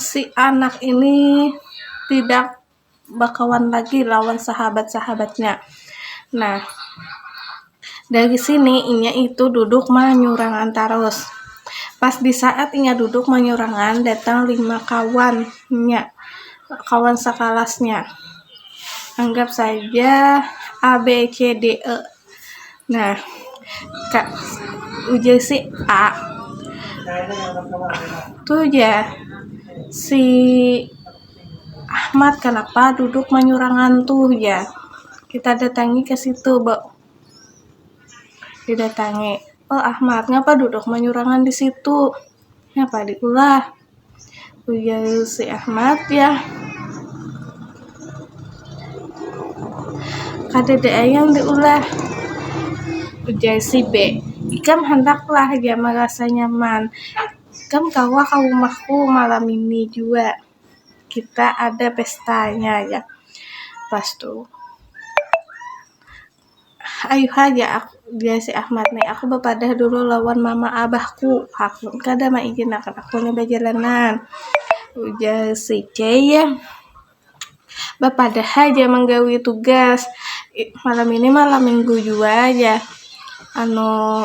si anak ini tidak bakawan lagi lawan sahabat-sahabatnya. Nah, dari sini inya itu duduk manyurangan tarus. Pas di saat inya duduk manyurangan datang lima kawannya, kawan sakalasnya. Anggap saja A, B, C, D, E. nah kak ujar si A tuh ya si Ahmad kenapa duduk manyurangan tuh ya kita datangi ke situ bo didatangi oh Ahmad ngapa duduk manyurangan di situ ngapa diulah ujar si Ahmad ya kada ada ayam diulah ujar si B ikam handaklah ya merasa nyaman ikam kawa ka rumahku malam ini jua kita ada pestanya ya pastu. Ayuh haja ak, jar si Ahmad ni, aku bapadah dulu lawan mama abahku, hakun kada maijinakan aku ni bajalanan, ujar si Cey bapadah haja manggawi tugas, malam ini malam minggu jua jar anu.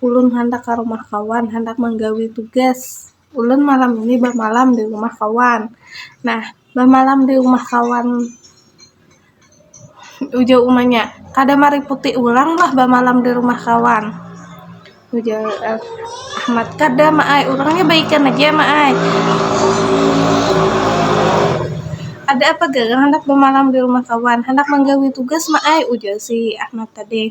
Ulun handak ka rumah kawan, handak manggawi tugas. Ulun malam ini bamalam di rumah kawan. Nah, bamalam di rumah kawan, ujar umanya. Kada mariputi urang lah bamalam di rumah kawan, ujar Ahmad. Kada, Ma ai. Urangnya baikan aja, Ma ai. Ada apa garang handak bamalam di rumah kawan? Handak manggawi tugas, Ma ai, ujar si Ahmad tadi.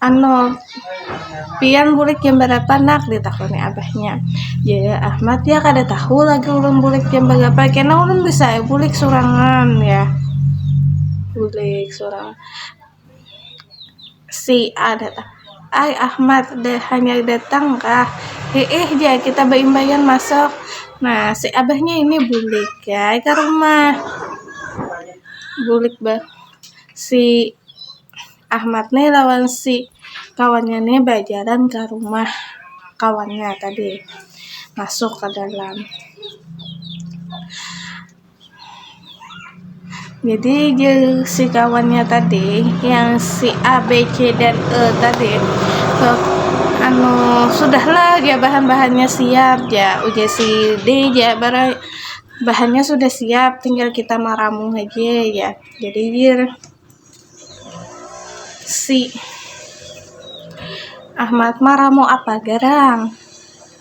Anu, pian bulik jam barapa nak? ditakuni abahnya. Jar Ahmad, ya kada tahu lagi ulun bulik jam bagapa, kena ulun bisa ai bulik surangan ya. Bulik surang. Si A datang, ai Ahmad dah hanyar datang kah? Hiih jar kita baimbaian masuk. Nah, si abahnya ini bulik ai ka rumah. Bulik ba si Ahmad ne lawan si kawannya ne bajalan ka rumah kawannya tadi masuk ka dalam jadi je si kawannya tadi yang si A B C dan E tadi so, anu sudahlah ya bahan-bahannya siap ya ujar si D ya barang bahannya sudah siap tinggal kita maramu aja ya jadi dia Si. Ahmad maramu apa garang?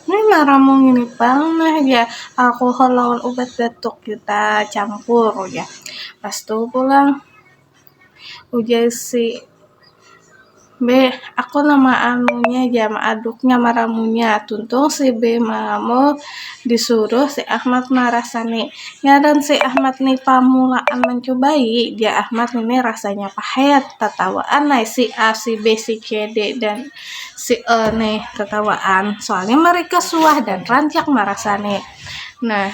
Ni maramu ngini pang nah jar, alkohol lawan ubat batuk kita campur ujar. Pas tu pulang ujar si. Be, aku nama anunya ja, maaduknya, maramunya, tuntung si Be mangamul disuruh si Ahmad marasani. Ngaran si Ahmad ni pamulaan mancubai, jar Ahmad ngini rasanya pahet, tatawaan ai si A, si B, si C, D, dan si E ni tatawaan, soalnya mereka suah dan rancak marasani. Nah,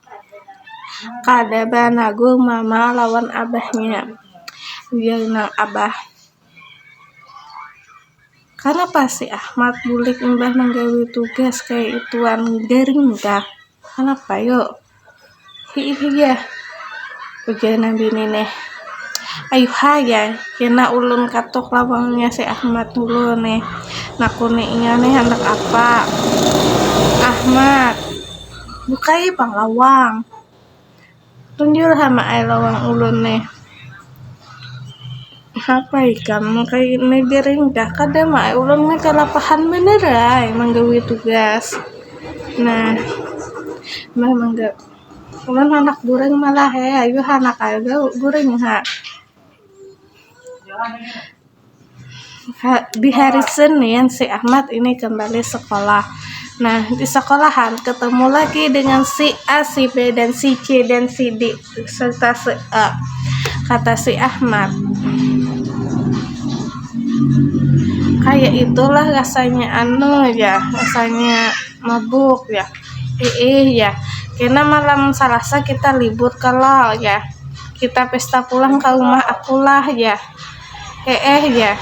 Kada banagur mama lawan abahnya, ujar nang abah. Kanapa si Ahmad bulik imbah manggawi tugas kaya ituan garing kah, kanapa yu, hiih jar, ujar nang bini nih. Ayuh ha jar, kena ulun katuk lawangnya si Ahmad dulu nih, nakuni inya nih handak apa. Ahmad. Bukai pang lawang. Tunjul ha mak ai lawang ulun nih. Napa ikam kaya ini gering kah? Kada mak ai ulun nih kalapahan banar ai manggawi tugas. Nah, meh mangga ulun handak guring malah eh, ayu handak ai guring ha. di hari Senin si Ahmad ini kembali sekolah nah di sekolahan ketemu lagi dengan si A si B dan si C dan si D serta si E kata si Ahmad kayak itulah rasanya anu ya rasanya mabuk ya eh ya karena malam Selasa kita libur kalau ya kita pesta pulang ke rumah akulah ya eh eh ya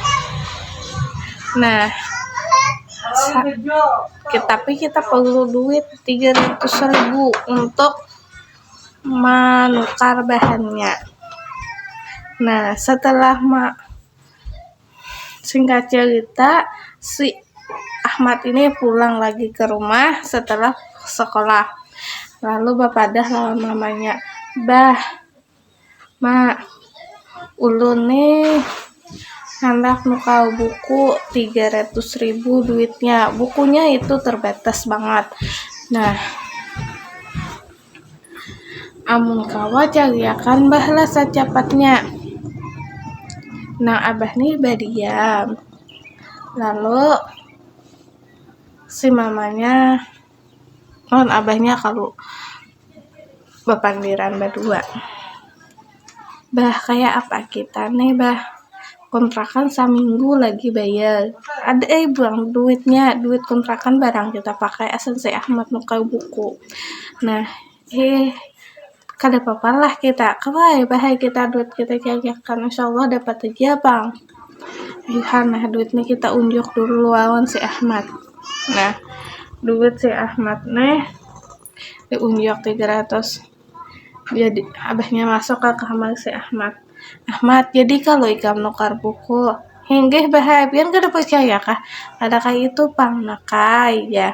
nah tapi kita perlu duit 300 ribu untuk menukar bahannya nah setelah ma singkat cerita si Ahmad ini pulang lagi ke rumah setelah sekolah lalu bapadah lawan mamanya bah Ma, ulun ni handak nukar buku tiga ratus ribu duitnya, bukunya itu terbatas bangat, nah amun kawa cariakan bah lah sacapatnya, nah abah ni badiam lalu si mamanya. lawan abahnya kalu bapandiran badua, bah kaya apa kita ne bah kontrakan saminggu lagi bayar ada ai buang duitnya duit kontrakan barang kita pakai asa si ahmad nukar buku nah. Heh, kada papa lah kita kawai bahaya kita duit kita jajakan insyaallah dapat aja bang lihat nah duitnya kita unjuk dulu lawan si Ahmad nah duit si Ahmad nih diunjuk 300 jadi abahnya masuk ke kamar si Ahmad Ahmad jadi kalau ikam nukar buku hinggih bahaya pian kada percaya kah ada kayak itu pang nakai ya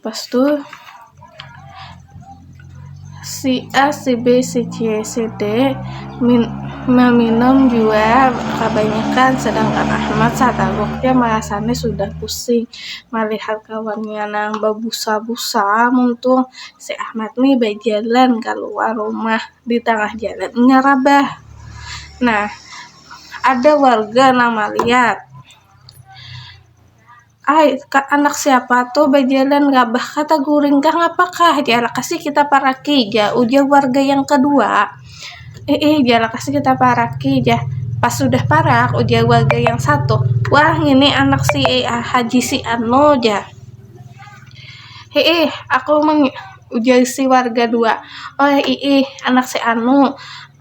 Pas tu si A, si B, si C, si D min, meminum jua kebanyakan sedangkan Ahmad sataluknya merasanya sudah pusing melihat kawannya nang babusa-busa muntung si Ahmad ni bajalan kaluar rumah di tangah jalan inya rabah nah ada warga nang malihat Ai, ka anak siapa tuh bajalan rabah ka taguring kah ngapa kah, jar lakasnya kita paraki ja ujar warga yang kedua. Ih ih, jar lakasnya kita paraki ja. Pas sudah parak, ujar warga yang satu, wah ngini anak si haji si anu ja. Ih ih, aku meng- ujar si warga dua, oh ih ih anak si anu,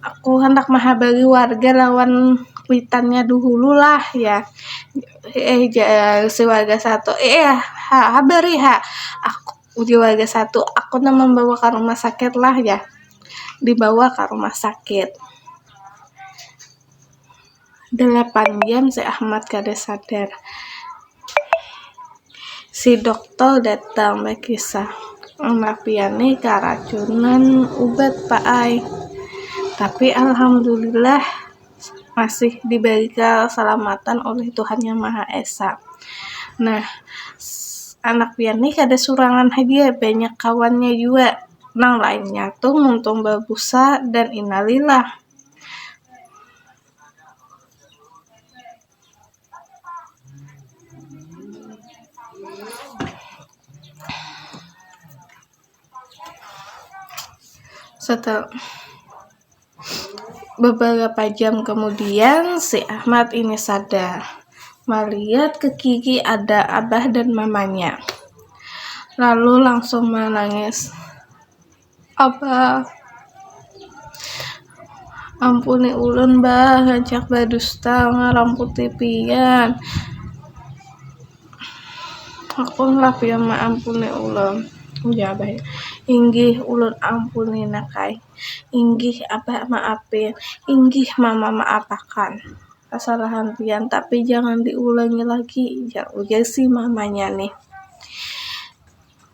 aku handak mahabari warga lawan kuitannya duhulu lah jar. eh jar si warga satu eh eh, ha habari ha aku ujar warga satu aku nang membawa ka rumah sakit lah jar dibawa ka rumah sakit delapan jam si Ahmad kada sadar si dokter datang bakisah anak pian ni karacunan ubat pa ai tapi alhamdulillah masih diberi keselamatan oleh Tuhan Yang Maha Esa. Nah, anak pian nih kada surangan haja, banyak kawannya jua. Nang lainnya tuh muntung babusa dan innalilah. beberapa jam kemudian si Ahmad ini sadar melihat ke kiri ada abah dan mamanya lalu langsung menangis abah ampuni ulun bah rancak berdusta ngaram putih pian Hakunlah pian maampuni ulun. Ujar Abah nya, Inggih ulun ampuni nak ai. Inggih Abah maapi. Inggih Mama maapakan kasalahan pian tapi jangan diulangi lagi, ujar si Mama nya nih.